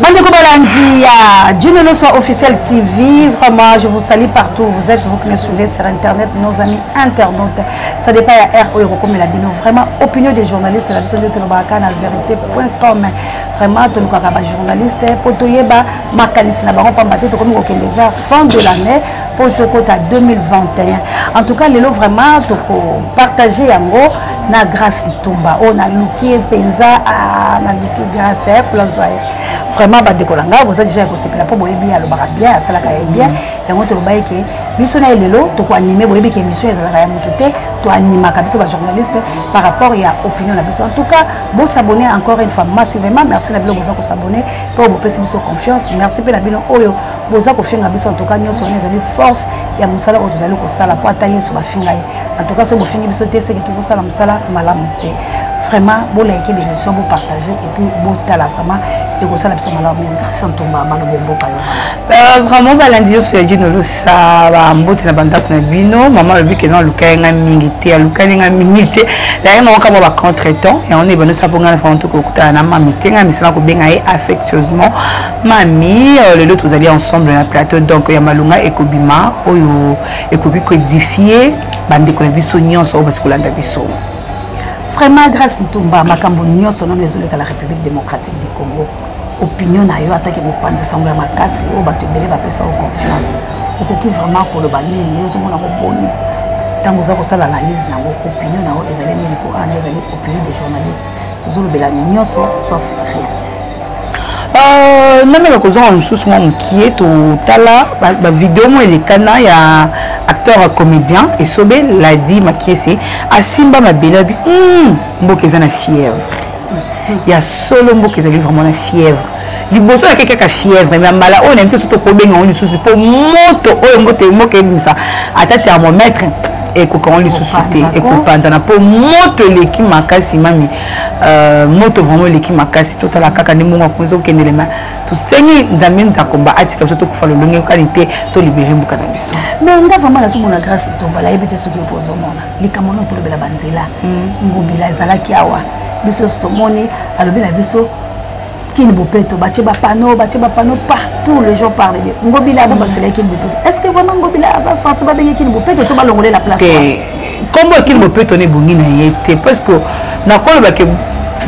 bandeko balandi ya dune loso officiel tv vraiment je vous salie partout vous êtes vous qui me suivez sur internet nos amis internautes ça dépend ya r oyo ekokomela bino vraiment opinion des journalistes na biso nde tolobaka na vérité point com vraiment tolukaka bajournaliste mpo toyeba makanisi na bango mpamba te tokomi kokende vers fin de l'année mpo tokota 2021 en tout cas lelo vraiment tokopartage yango na grace ntumba oyo naluki ye mpenza ah, naluki grace eh, plazwa ye vraiment bandeko na ngai boza deja ya kosepela mpo boyebi ye alobaka bien asalaka ye bien yango tolobaki ke biso na ye lelo tokoanime boyebi ke émission ezalaka ya motu te toanimaka biso bajournaliste par rapport ya opinion na biso en tout cas bosabone encore une fois massivement merci na bino boza kosabone mpo bopesi biso confiance merci mpe na bino oyo boza kofinga biso antuka nyonso wana ezali force ya mosala oyo tozali kosala mpo ata yesu bafinga ye antuka soki bofingi biso te seke tokosala mosala malamu te vraiment bolaike bemission bopartage epuis botala vraiment ekosala biso malamu mingi grâce ntumba malobo mboka yo euh, vraiment balandi nyonso ya dino losa bambote na bandako na bino mama alobi kena alukaki ngai mingi te alukaki ngai mingi te laye moko kama bacontre temps yango nde ebanosa mpo ngai na fango tokokutana na mami te ngai misala kobenga ye affectueusement Mami, euh, le lot, vous allez ensemble na plateau, donc ya malunga ekobima oyo ekoki ko édifier bande ko na biso nyonso oyo basikolanda biso. Vraiment grâce Ntumba makambo nyonso nano ezoleka la République démocratique du Congo. Opinion na yo ataki bopanzi sango ya makasi oyo bato ebele bapesa yo confiance. Okoki vraiment koloba nini yo ozomona moboni ntango oza kosala analyse na yango opinion na yango ezali nini mpo wana ezali opinion de journaliste tozolobela nyonso sauf rien euh, namela kozonga mosusu mwa mokie totala bavideo mwa elekana ya acteur comédien esobe ladi makiese asimba mabele abi hmm, mboka eza na fièvre ya solo mboka ezali vraiment na fièvre liboso yaki kaka fièvre mais mbala oyo na biso so tokobenga yango lisusu mpo moto oyo moto moko ebimisa ata thermomètre ekoka yango lisusu te ekopanzana mpo moto eleki makasi mami euh, moto vraiment eleki makasi totala kaka nde mongo akonzi okendelema tosengi nzambe nzakomba atika biso tokufa lolenge yokani te tolibere mboka na biso me nga vraimen nazomona grâce tomba nayebi te soki opo ozomona likambo nao tolobela banzela hmm. ngobila ezalaki awa biso nyonso tomoni alobi na biso kin bopeto batie bapano batie bapano partout les gens parle de ngobila yango bakisela kin bopeto est ce que vraiment ngobila aza sense babenge kin bopeto to balongole la place nkombo ya kin bopeto na ebongi na ye te parce que nakolobake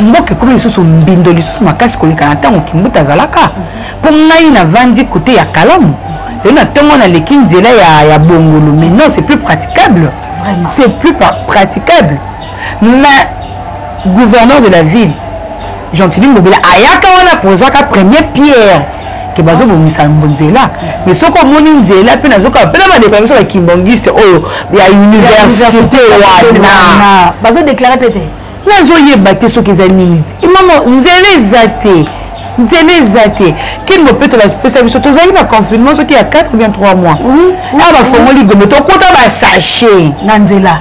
mboka ekomi lisusu mbindo lisusu makasi koleka na ntango kimbuta azalaka mpo ngai navandi kote ya kalamu lelo na ntongo naleki nzela ya, ya bongolo mais non c'est plus praticable c'est plus praticable mais gouverneur de la ville gentili ngobela ayaka wana pozaka premier pierre ke bazobongisa nzela mais soki omoni nzela mpe nazokaa mpe na bandeko ya biso bakimbongiste oyo ya université wana bazodeklare mpe te nazoyeba te soki eza nini mama nzela eza te nzela eza te kini bopeto bapesa biso tozalaki na confinement soki ya 83 mois na bafongoli gombe tokota basachet na nzela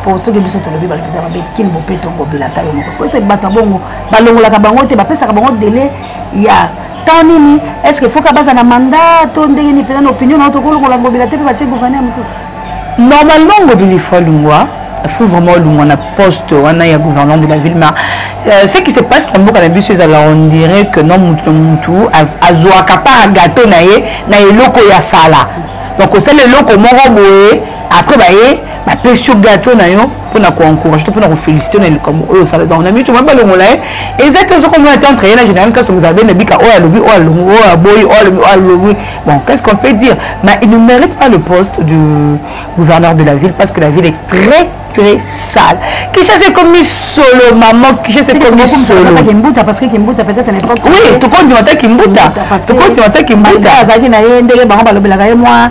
mpo soki biso tolobi balopita mabe kini bopeto ngobila ata yo moko sokoyesa bato ya bongo balongolaka bango te bapesaka bango dele ya temps nini est ce que foka baza na mandat to ndenge nini mpenza na opinion nao tokolongola ngobila te mpe batie gouverneur mosusu normalement ngobila ifo alongwa il faut vraiment olongwa na poste wana ya gouverneur de la ville ma euh, ce qui se passe na mboka na biso ezala on dirait que non motu motu azwaka par gateau na ye na eloko ya sala donc osala eloko moko boye après baye bapesi yo gato na yo mpo na koencourage to mpo na kofélicité na likambo oyo osala donc na mitu mwa balongola ye eza te ozokomona te entre ye na général kasongo ezala bene bika oyo alobi oyo alongi oyo aboyi oyo alobi oyo alongi bon qu'est ce qu'on peut dire mais il ne mérite pas le poste du gouverneur de la ville parce que la ville est très très sale kishasa ekomi solo mama kishasa ekomi solokimbuta parce que kimbuta peut-être à l'époque oui tokondima ta kimbuta tokondima ta kimbuta azalaki na ye ndenge bango balobelaka ye mwa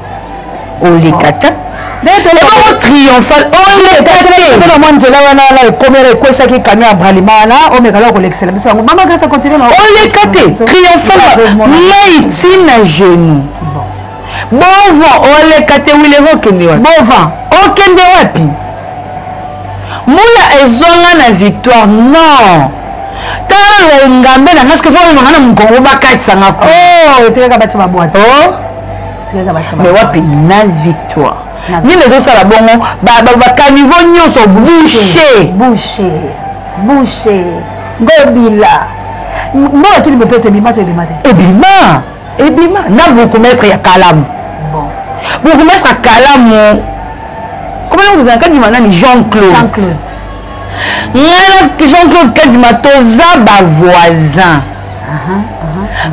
oleka ta ebongo triomphal oyoekatela mwa nzela wana wana ekomela ekwesaki kamio ya bralima wana omekala kolekisela biso yango mama grasa continue oleka te triomphal mai ntina genou bovan oleka te wilero okende wapi bovan okende wapi mbula ezwanga na victoire non tala engambe na nga soki fo olonga na mokongo bakatisa nga ko oh, etikaka bato babwata oh. mais wapi na victoire nini ezosala bongo bakanivo nyonso bouche bouche bouche ngobila mbongo tuli bopeto ebima to ebima te ebima ebima na bourgmestre ya kalamu bon bourgmestre ya kalamu komana kozala kadima nani jean claude jean claude ngai na jean claude kadima toza bavoisin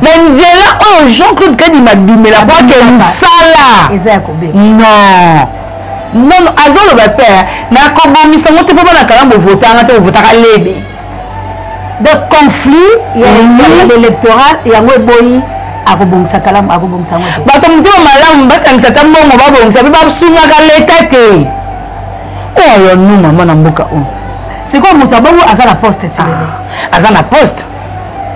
mais nzela oyo jean claude kadima abimela po ake mosala non non azoloba mpe nakobongisa yango te mpo bana kala bovota yanga te bovotaka lebe donc conflit ya l'électoral yango eboyi akobongisa kalamu akobongisa yango te bato motema malamu basangisa ata mbongo babongisa mpe basungaka leta te oyo nu mama na mboka oyo sikoyo moto ya bongo aza na poste ti lelo ah, aza na poste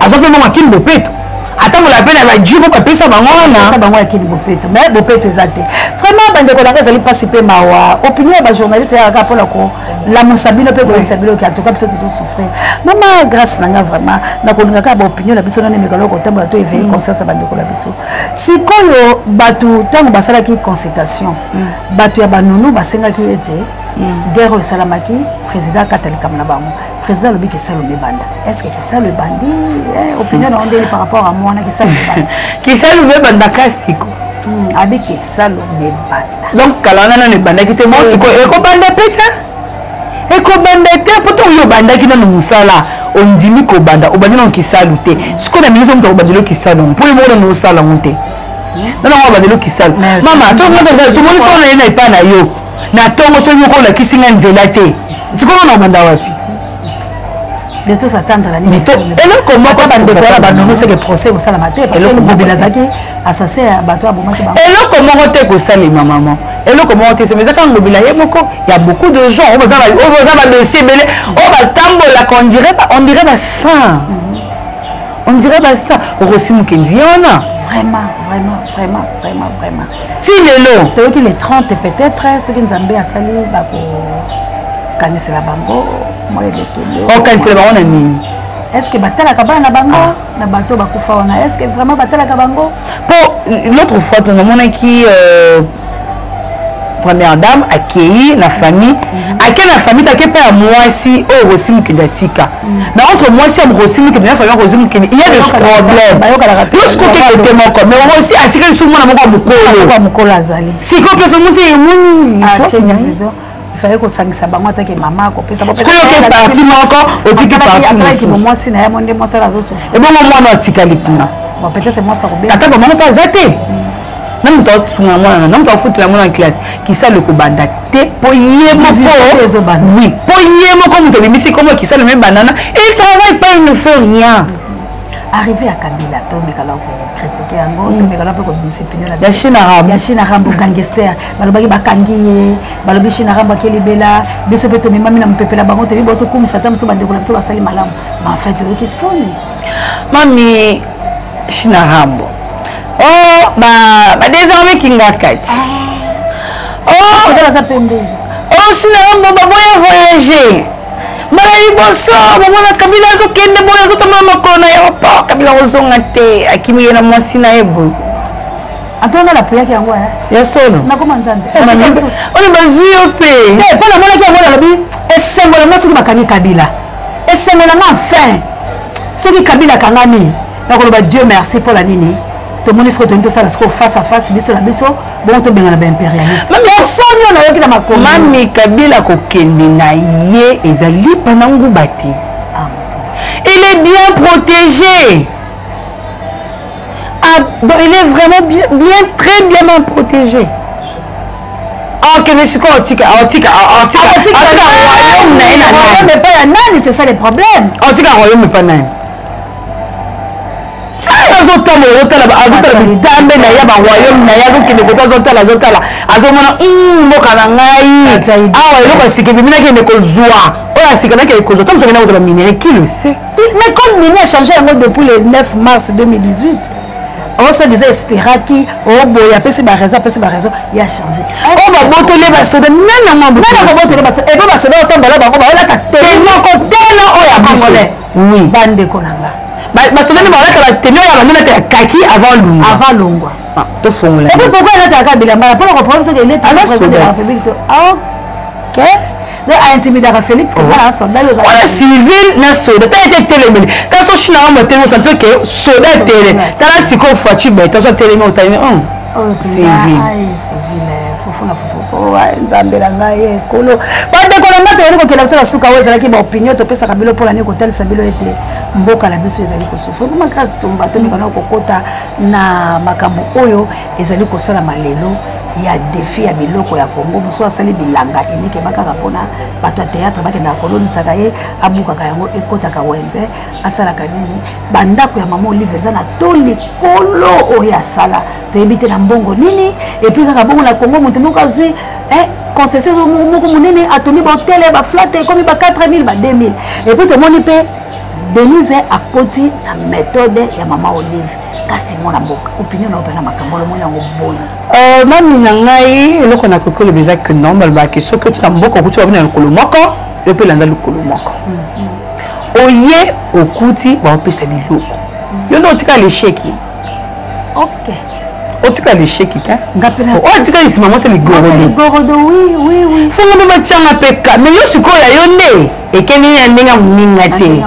aza mpe bongo akini bopeto atambola mpe na bajiro bapesa bango wanapesa bango yakini bopeto me bopeto eza te vraiment bandeko nanga ezali mpasi mpe mawa opinion ya bajournaliste eyaka kaka mpona kolamusa bino mpe koyebisa bino ke antuka biso tozosouffrir mama grâce nanga vraiment nakolinga kaka baopinion na biso nano emekalo kotambola to eveille mm. conscience ya bandeko na biso sikoyo bato ntango basalaki consultation mm. bato ya banunu basengaki ete mm. guerre oyo esalamaki président akata likambo na bango président alobi kisalu mebanda est ce que kisalu ebandi eh, opinion na ondeli par rapport à mwana kisalu mebanda kisalu mebanda kasiko hmm, abi kisalu mebanda donc kala wana nano ebandaki te moi sikoyo ekobanda mpe te ekobanda te mpo ntango yo obandaki nano mosala ondimi kobanda obandi nano kisalu te sikoyo na mingi omutu akobandeli yo kisalu yango mpo yo moko nano osala yango te hmm? nano yango abandeli yo kisalu mama to mwana ezali somonisi wana ye na epai na yo na ntongo soki oko olakisi nga nzela te sikoyo na obanda wapi eloko moko bandeko wana banonoseke procès ekosalama te parceobobela azalaki assassin ya bato abomaki bango eloko moko te ekosalema mama eloko moko te sema ezaka ngobela ye moko ya beaucoup de gens oyo baza badosie ebele oyo batambolaka ondire basin ondire basin okosi mokenzi ye wana vraiment vraiment vraiment vraiment vraiment ti lelo toyoki le 30 peut-être soki nzambe asali bakokanisela bango mwa elekeli okanisela bango na nini est ce que batalaka bana na bango ah. na bato bakufa wana est ce que vraiment batalaka bango mpo l'autre fois to namonaki euh, première dame akei na famille mhm. akei na famille take mpe ya mwasi oyo rosi mokende atika mais entre mwasi ya rosi mokili na fabien rosi mokili il y a des problèmes lorsque oke kote moko mais rosi atikali so mwana moko ya mokolo azali sikoyo mpe somuti emoni ifai kosangisa bango atake mama akopesa oyoke parti moko otiki partimwasi na ye mo nde mwasi azosofebongo mwana atikali kuna ata bamama mpe aza te na moto asunga mwana na na moto afutela mwana na classe kisalo ekobanda te mpo ye mokowi mpo ye moko moto abimisi nkombo kisalo mibandana e travaille pas il ne fait rien arrivé ya kabila tomekala kokritike yango mm. tomekala mpe kobimisa epinolya chine rambo gangester balobaki bakangi ye balobi chine rambo ake libela biso mpe tomemami na mopepela bango toyebi bao tokumisa ata moso bandeko na biso basali malamu ma enfin toyoki soni mami chine rambo oh ba ba désormais kingarkat ah. oh c'est baza pembe oh sina rambo ba boya voyager mbala liboso bomona kabila azokende boye azotambola makolo na aéroport kabila kozonga te akimi ye na mwasi na ye boye atonga na peyaki yango eh? ya solo nakoma nzambe eh, oyo bazwi yo mpe eh, mpo namonaki yango nalobi esengo na ngai soki bakangi kabila esengo na ngai enfin soki kabila akangami nakoloba dieu merci mpo na nini tomoni soki toyini tosala sikoyo face à face biso na biso bongo tobengana baimpérialismepersonne oyo nayoki na makomi mami kabila kokende na ye eza lipa na nguba te ah, il est bien protégé ah, donc il est vraiment bien, bien très bien bien protégé akende ah, sikoyo otika otika otika otika royaume na ye na nani epai ya nani c'est ça le problème otika royaume epai nani azotambola azotala azotala bitambe na ye baroyaume na ye azokende koto azotala azotala azomona hmm, mboka na ngai awa eloko ya sika ebimi nakende kozwa oyo ya sika nakende kozwa ntango sokende kozala minere qui le sait mais code mini achange yango depuis le 9 mars 2018 osodisa esperaki oboye apesi baraison apesi baraison ya change oyo oh, babotoli basoda nana mabotoli basoda epe basoda otambola bango baolata tenoko tena oyo ya congolais oui bandeko na nga basoda nde balata batenu ya bando nata ya kaki avant longwa avant longwa ah, tofongola epe pourkoi elata yaka bilamba na mpona koprobe soki eleti président de la république to ah, ok donc aintimidaka félix kebala oh. na soldat yo ozala civil na soda tala ete etelemeli tala so chine yango motelemi osanti oke soda etele tala sikoyo foiture bete so atelemi otalemi nzambe na ngai ekolo bandeko na ngai tozali kokenda biso na suka oyo ezalaki baopinio topesaka bino mpo na nini kotalisa bino ete mboka na biso ezali kosufa po makasi tomba tomekana kokota na makambo oyo ezali kosalama lelo ya defi ya biloko ya congo mosusu asali bilanga elikema kaka mpona bato ya théâtre bakendaka kolonisaka ye abukaka yango ekotaka wenze asalaka nini bandako ya mama olive eza na to likolo oyo asala toyebi te na mbongo nini epuis kaka bongo na congo moto moko azwi eh, concession moko monene atongi bahotel ya baflate ekomi ba 4000 ba 2000 epuis tomoni mpe denise akoti na méthode ya mama olive kasi mwana mboka opinion na yo mpe na makambo olomoni yango boni euh, mami na ngai eloko nakoki koloba eza ke non balobaki soki oti na mboka okuti babina lokolo moko yo mpe landa lokolo moko oye okuti baopesa biloko yo nde otika lesheki ok otika lesheki te otika lisima mwasi ligorodofongo mpe batyanga mpe ka me yo sikoyo ya yo nde ekendeli ya ndenge ya moninga te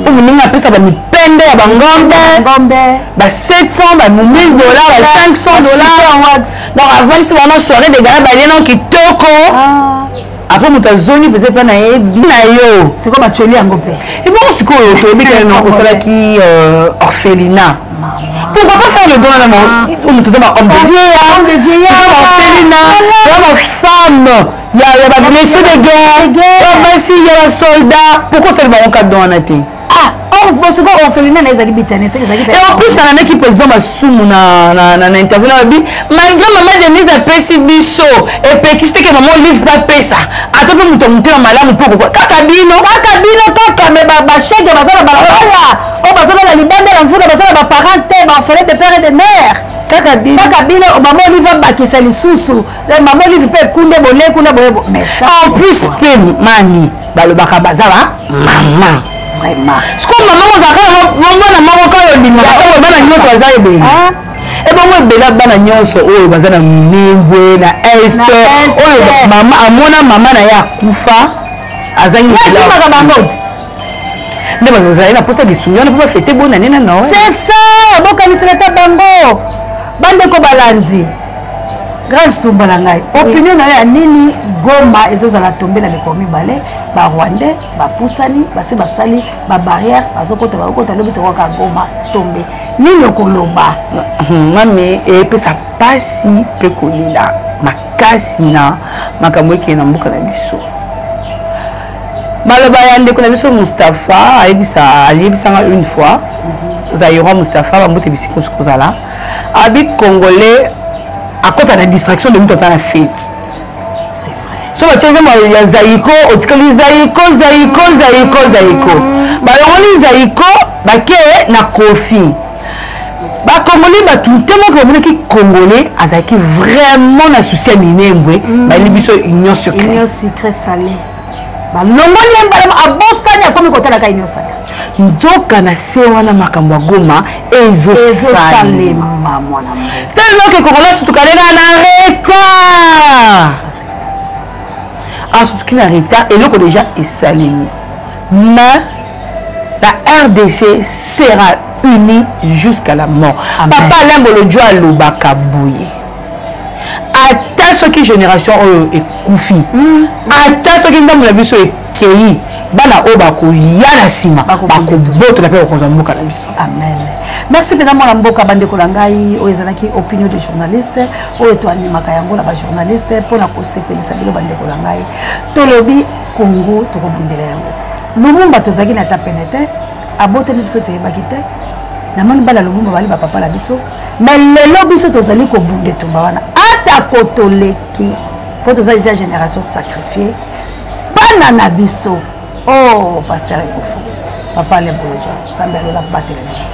mpo moninga apesa bamipende ya bangombe ba 700 ba 1000 dola ba 500 dola donc avandisi bango soirée de gala balie nao kitoko ah. après moto azongi mpenza epai na ye bi na yo sikoyo batioli yango mpe ebongo sikoyo toyebi kaka na osalaki euh, orphelina pourquoi pas faire le don na moto oza bahomme de vieillarorphelina oza bafemme ya bablesse de guerre ya basi ya basoldat pourquoi osali bango kadon wana te Ah, bosiko orphelinat na ezali bitanese ezali pe en plus na meki président masumu na na na interview na bi malgré maman Denise apesi biso epekisi te ke maman Olive ba pesa ata pe moto motema malamu pe kokwa kaka bino kaka bino kaka me ba ba chèque baza na balabala o baza na libanda na mvula baza na ba parents te ba orphelin de père et de mère kaka bino kaka bino maman Olive abakisa lisusu Eh, maman olive mpe kunde bole kuna boye en plus mpe mami balobaka baza ba mama vraiment siko mama kozalaka mwana moko kaka olingaka oyo bana nyonso baza ebele ah. ebongo eh, ebela bana nyonso oyo baza na minembwe na est oyo mama amona mama na ye akufa azangi bango nde bazali na mposa lisungi wana mpo bafete bona nde na noel c'est ça bokanisela ata bango bandeko balandi grâce tumba na ngai opinion na yo ya nini goma ezozala tombe na mikolo mibale barwandais bapusani basi basali babarrière bazokota bakokota lobi tokoka goma tombe nini okoloba mami epesa mpasi mpe kolela makasi na makambo ekeye na mboka na biso maloba ya ndeko na biso mustapha ayebisa aliyebisanga une fois mhm. zairoi mustapha bambote bisika osi kozala abi congolais akota na distraction de moto aza na fete so batye nzembo ya zaiko otikali zaiko zaiko zaiko zaiko balongoli zaiko bake na kofi bacongolais bato ntango oke bamonaki congolais azalaki vraiment na souci ya minembwe mm. bayeli biso union secret sale balongoli ye mbalama abosani akomi kotalaka union sacre nzoka na se wana makambo ya goma ezosalema tellement ke congolais sutukalela na retard asutuki na retard eloko deja esalemi mais la rdc sera unie jusqu'à la mort papa alain bolodjo alobaka boye ata soki génération oyo ekufi hmm. ata soki ndambo na biso ekei bana oyo bakoya na nsima bakobotola mpe bakonza mboka na biso amen merci mpenza mwana mboka bandeko na ngai oyo ezalaki opinion de journaliste oyo toanimaka yango na bajournaliste mpo na kosepelisa bino bandeko na ngai tolobi kongo tokobundela yango lumumba tozalaki na ata pene te aboteli biso toyebaki te na moni bana lumumba bali bapapa na biso me lelo biso tozali kobunda etumba wana atako toleki mpo toza deja génération sacrifie bana na biso o oh, paster ekofo papa leboloja nzambe alola batela biso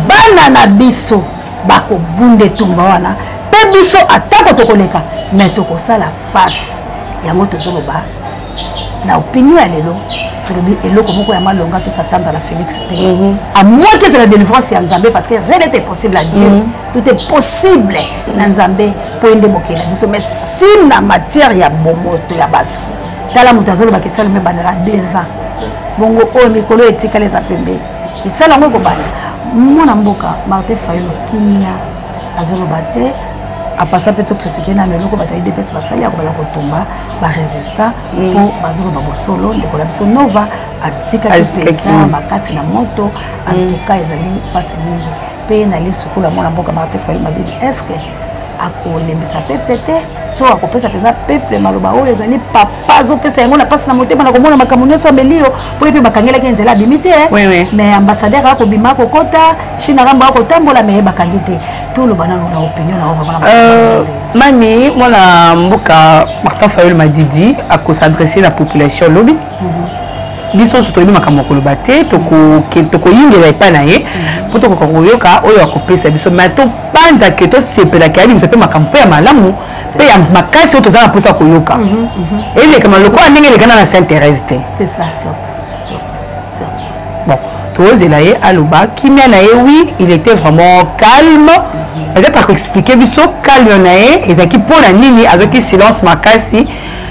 bana na biso bakobunda etumba wana mpe biso atako tokoleka me tokosala face yango tozoloba na opinion ya lelo tolobi eloko moko ya malonga tosatanda na félix te mhm. à moins que ezala délivrance ya nzambe parce que rien n'était possible à dieu mhm. tout est possible na nzambe mpo ye nde mokeli na biso mais si na matière ya bomoto ya bato tala moto azoloba kesali me bandela deux ans bongo oyo mikolo etikali eza pembeni kisala yango ekobanda mwana mboka martin fayilo kimia azoloba te apasa mpe tokritike nano eloko bato ya idps basali ya kobala kotumba barésistant mpo mm. bazoloba bosolo ndeko na biso nova azikaki mpenza makasi na moto antuka mm. ezali mpasi mingi mpe na lisukulu ya mwana mboka martin fail madidi estce akolembisa pepe te to akopesa mpenza peple maloba oyo ezali papa azopesa yango na mpasi na motema na komona makambo nyonso ameli yo mpo ye mpe bakangelaki ye nzela abimi te mais ambassadeur akobima akokota chine akambo akotambola mais ye bakangi te toloba nano na opinion na ovamana euh, mami mwana mboka martin fayol madidi akosadresse na population lobi biso nyonso toyebi makambo ya koloba te tokoyingela epai na ye mpo tokoka koyoka oyo akopesa biso ma topanza ke tosepelaki abimisa mpe makambo mpe ya malamu mpe ya makasi oyo toza na mposa koyoka mhm, mhm. elekama lokola ndenge elekana na saint thérèse te bon tozela ye aloba kimia na ye wi il était vraiment calme mhm. peut-être akoexplike biso calme na ye ezalaki mpo na nini azwaki silence makasi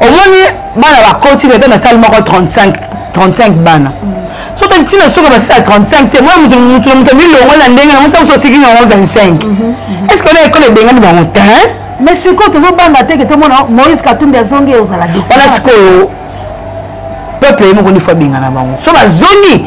omoni bana bakoti leta na sale moko 35 35 bana mm. so tali ntina soki basisa ya 35 te mwa moto moto na moto milongo na ndenge na moti moso osiki na yango 25 est ce que ona ekolo ebengani bango te mais sikoyo tozobanga te ke tomona moïse katumbi azongi ozala wana sikoyo peuple ye moko nifo abengana bango so bazongi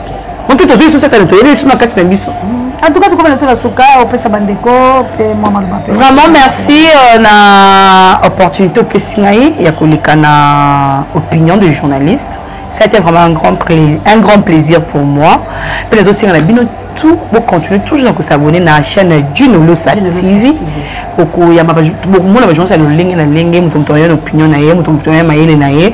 moke tozwi lisusu ekani toyeli lisusu na kati na biso mm. en tout cas tokomi na biso na suka opesa bandeko mpe mwa maloba mpe vraiment merci euh, na opportunité opesi ngai ya koleka na opinion de journaliste ça a été vraiment un grand, plaisir, un grand plaisir pour moi mpe nazosenga na bino tout bocontinue toujours na kosabone na chaîne junolosa tv bokoyamba bokomona bajournaliste ya lolenge na lenge moto moto ayo na opinion na ye moto moto ayo mayele na ye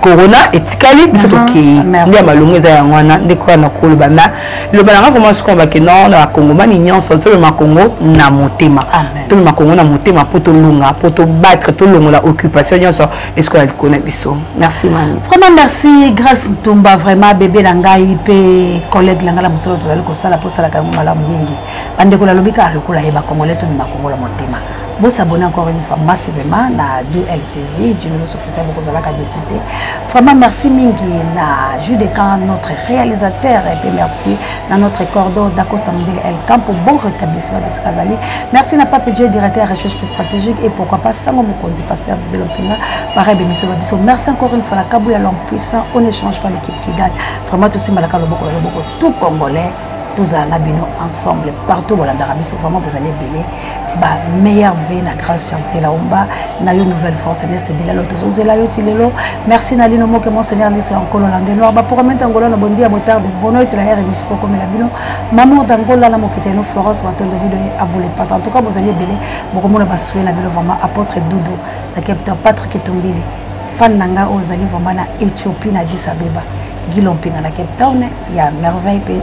corona etikali biso mhm. tokei nde ya malonga eza yango wana nde koya na koloba na loba nanga vraimen soki abake no na bakongomani nyonso tolema kongo na motema tolema kongo na motema mpo tolonga mpo tobattre tolongola occupation nyonso esiko na likolo na biso merci mami vraiment merci grace ntumba vraiment bebe na ngai mpe collègue na ngai na mosala tozali kosala mpo osalaka yango malamu mingi bandeko nalobi kaka lokola ye bakongole tomema kongo na motema Vous s'abonnez encore une fois massivement na DUL TV, Julius Officiel Bokozalaka décidé. Vraiment merci mingi na Jules Decan, notre réalisateur, et puis merci na notre cordon d'Acosta Mondele El Campo, bon rétablissement Biskazali. Merci na Pape Dieu, directeur recherche stratégique, et pourquoi pas Sango Mokondi, pasteur de Delompinga, pareil Bémission Babiso. Merci encore une fois la Kabouya, l'homme puissant, on n'échange pas l'équipe qui gagne. Vraiment tout Simalaka Loboko, Loboko, tout Congolais, tous à Nabino ensemble, partout au Landarabis, vraiment vous allez bêler. ba meilleur vie na grâce chantela omba na yo nouvelle force neste de la loto zozela yo tilelo merci na lino moke mon seigneur lise en cololande noir ba pour mente angola na bondi ya motard de bono et la hier émission ko komela bino maman d'angola na mokete no Florence matondo bino et abole pas en tout cas bozali belé boko mona ba souhait na bino vraiment apôtre Doudou na capitaine Patrick Tumbili fan na nga ozali vraiment na Ethiopie na Addis Abeba Guilompi na Cape Town ya merveille